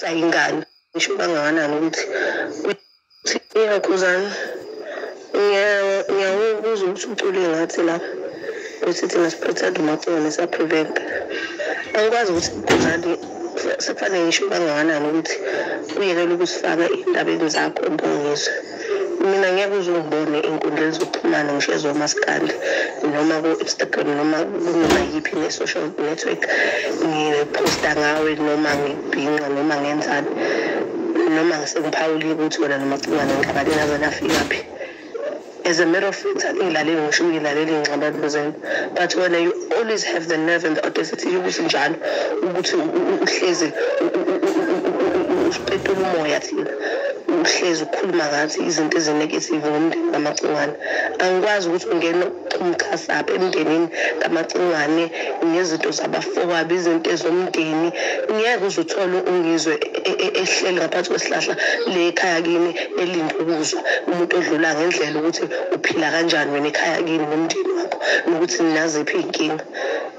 sayingane ngisho kangakanani ukuthi ukuthi iyakhuzana ngiyawubuza ukuthi ucule ngathi la ukuthi thina siprotect umacone siyaprevent angikwazi ukuthi ngani sekufanele ngisho kangakanani ukuthi uyekele ukusifaka indabeni zakho mbongizwe mina ngeke uze ungibone ey'nkundleni zokuxhumana ngisho ezomaskandi noma ku-instagram noma kunoma yiphi ne-social network ngiphosta ngawe noma ngibhinqa noma ngenzani noma ngisengiphawulile ukuthi wena nomacingwane ngixabane nazo nafikaphi as a matter of fact angilaleli ngisho ngilaleli ngixabane zenu but wena you always have the nerve and the audacity yokuthi njalo ukuthi uhlezi usipetula umoya thina uhlezi ukhuluma ngathi izinto ezinegative ngomndeni kamacingwane angikwazi ukuthi ungena umchasaphi emndenini kamacingwane ngezinto zabafowabo izinto ezomndeni ngeke uzuthole ungizwe e-, e-, ehleli ngaphansi kwesihlahla le ekhaya kini elinde ukuzwa umuntu odlula ngendlela ukuthi uphila kanjani wena ekhaya kini nomndeni wakho nokuthi ninaziphi iy'nkinga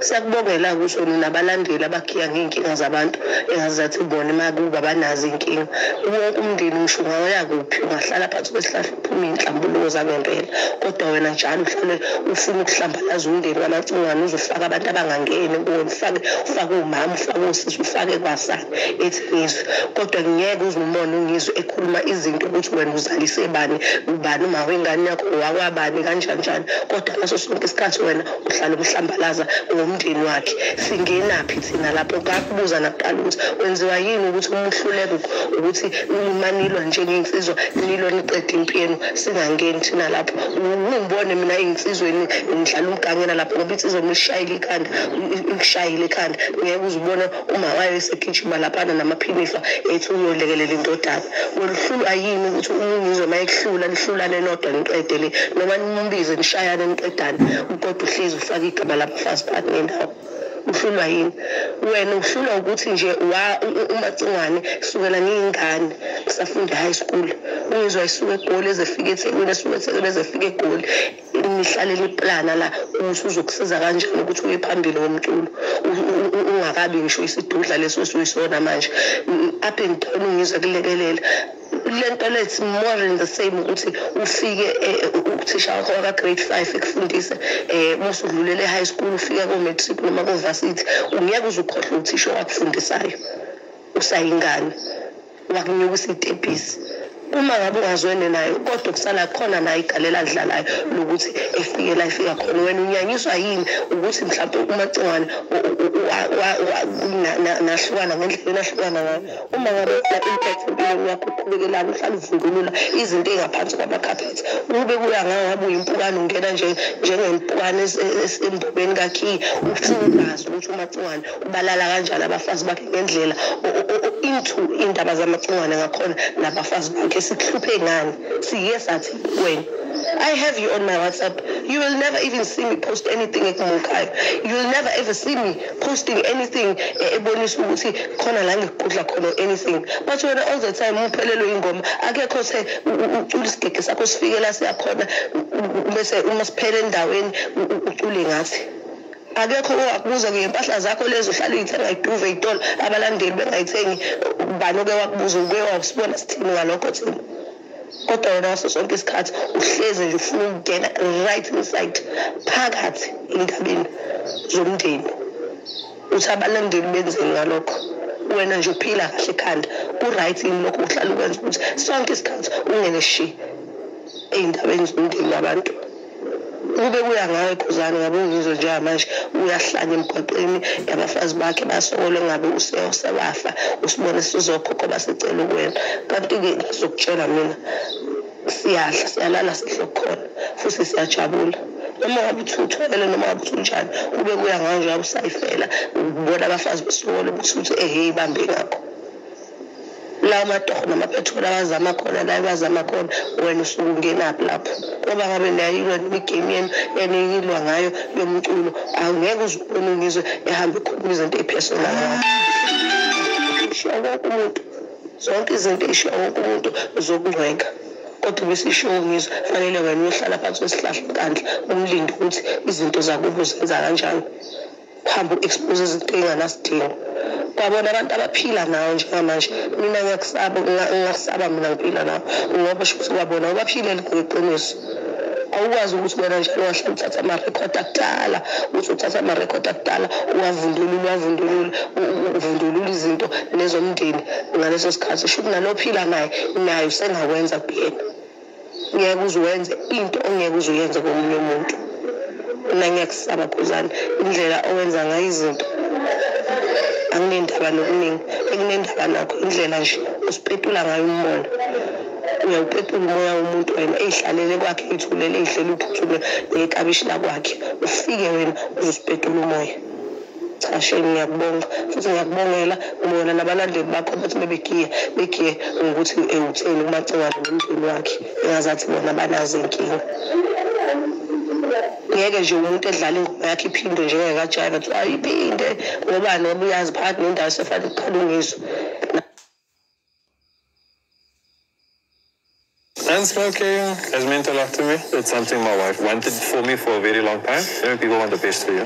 Siyakubongela kusho nabalandeli abakhiya ngey'nkinga zabantu engazathi bona emakuba abanazo iy'nkinga. Wonke umndeni ngisho ungawaya kuphi ungahlala phansi kwesihlahla uphume iy'nhlambuluko zangempela. Kodwa wena njalo uhlale ufuna ukuhlambalaza umndeni kamacingwane uze ufake abantu abangangeni kuwena ufake ufake umama ufake osisi ufake kwasani ethi ngizwe. Kodwa ngeke uze umone ungizwe ekhuluma izinto ukuthi wena uzalise bani, ubani umawengane yakho, owakwabani kanjani njani. Kodwa ngaso sonke isikhathi wena uhlale umhlambalaza ngomndeni wakhe singenaphi thina lapho kakubuza nakuqala ukuthi wenziwa yini ukuthi umuhluleke ukuthi umanilwa njengey'nsizwa nilwa niqeda impi yenu singangeni thina lapho ungibone mina ey'nsizweni ngidlala umgangela lapho ngoba insizwa uma ishayile ikhanda ikushayile ikhanda ngeke uzibone uma wayo esegijima laphana namaphiniswa ethi uyolekelela indodana woluhlulwa yini ukuthi umungizwe uma ekuhlula nihlulane nodwa niqede le noma nimbize nishayane niqedane ukodwa uhlezi ufake igama labafazi phakathi nendawo uhlulwa yini wena uhlulwa ukuthi nje umacingwane sukela ngiyingane ngisafunda high school ungizwa isuke egoli ezefika ethekwini esuke ethekwini ezefika egoli nihlalele iplana la usuzokusiza kanjani ukuthi uye phambili ngomculo ungakabi ngisho isidudla leso esuyisona manje up and down ngizwe kulekelela lento lethi more in the same ukuthi ufike eh, uthisha wakho waka grade 5 ekufundise eh musu udlulele high school ufike ko matric noma ko varsity ungeke uzukhohle uthisha wakufundisa usayingane wakunyuka usitebhisi uma ngabe ungazwene nayo kodwa kusala khona nayo igalela adlalayo lokuthi efike la ifika khona wena unyanyiswa yini ukuthi mhlawumbe umacingwane nahlukana ngendlela enahlukana ngayo uma ngabe kula impact empilweni yakho uqhubekelana uhlala uvungulula izinto ey'ngaphansi kwamakhaphethi ukube kuya ngawo ngabe uyimpukane ungena njengempukane esembobeni kakhiyi ufuna ukwazi ukuthi umacingwane balala kanjani abafazi bakhe ngendlela into indaba zamacingwane ngakhona nabafazi bakhe sikuhluphe ngani siye sathi kwena I have you on my WhatsApp. You will never even see me post anything ekumunkayo. You will never ever see me posting anything eh, ebonisa ukuthi khona la ngigudla khona anything. But wena all the time uphelelwe ingoma. Akekho se ucula isigege sakho sifikela siyakhona bese uma siphele endaweni ucule ngathi. akekho owakubuza ngempahla zakho lezo uhlala uyithenga iduve itolo abalandeli bengayithengi ubani oke wakubuza uke wakusibona sithini ngalokho thina kodwa wena ngaso sonke isikhathi uhleze nje ufuna ukungena right inside phakathi endabeni zomndeni uthi abalandeli benzeni ngalokho wena nje uphila kahle ekhanda ku-right yini lokho uhlala ukwenza ukuthi sonke isikhathi ungene shi ey'ndabeni zomndeni wabantu Ube kuya ngawe Quzane ngabe ungizwe njengamanje uyahlanya emgwaqeni yabafazi bakhe basokole ngabe useyosebafa usibone sizokhokho basicela ukuwena kanti-ke ngizokutshela mina siyadla siyalala sihle kukhona futhi siyajabula noma ngabe uthi uthwele noma ngabe uthi unjani kube kuya ngawe njengabe usayifela ubona abafazi besokole ukuthi uthi ehhe ibambe ngakho lawo matoho namaphetholo abazama khona la bazama khona wena usuke ungenaphi lapho ngoba ngabe nayilwa imigame yenu eniyilwa ngayo yomculo angeke uzubona ngizwe ehamba ikhuluma izinto ey'personal ishiya wonke umuntu zonke izinto ey'shiya wonke umuntu zokungcwenga kodwa besisho ngizwe fanele wena uyohlala phansi kwesihlahla kandla umlinde ukuthi izinto zakubo zenza kanjani kuhamba u-expose izinto ey'nganasidingo kwabona abantu abaphila nawo njengamanje mina ngiyakusaba ngingakusaba mina ngiphila nawo ngoba sho ukuthi kwabona ubaphilele ngeqiniso awukwazi ukuthi wena njalo wahlala uthatha amarekhodi akudala uthi uthatha amarekhodi akudala uwavundulule uwavundulule uvundulule izinto nezomndeni ngaleso sikhathi sho ukuthi nalophila naye naye usengawenza kuyena ngeke uze wenze into ongeke uze uyenze komunye umuntu mina ngiyakusaba khuzana indlela owenza ngayo izinto anginendaba nokuningi ekunendaba nakho indlela nje usipetula ngayo umbona uyawupetula umoya womuntu wena eyihlalele kwakhe ithulele ihlele uphuthume nekabishi lakwakhe ufike wena uzosipetula umoya cha shame ngiyakubonga futhi ngiyakubongela ubona nabalandeli bakho ukuthi bebegiye begiye ngokuthi ewutheni umacingwane nomndeni wakhe engazathi bona banazo inkinga ngeke nje umuntu edlala ingoma yakhe iphinde njengekajaiva kuthiwa ayiphinde ngobani ngoba uyazi phakathi nendawo sefanele uqhale ungizwa And smoking has meant a lot to me. It's something my wife wanted for me for a very long time. You know, people want the best for you.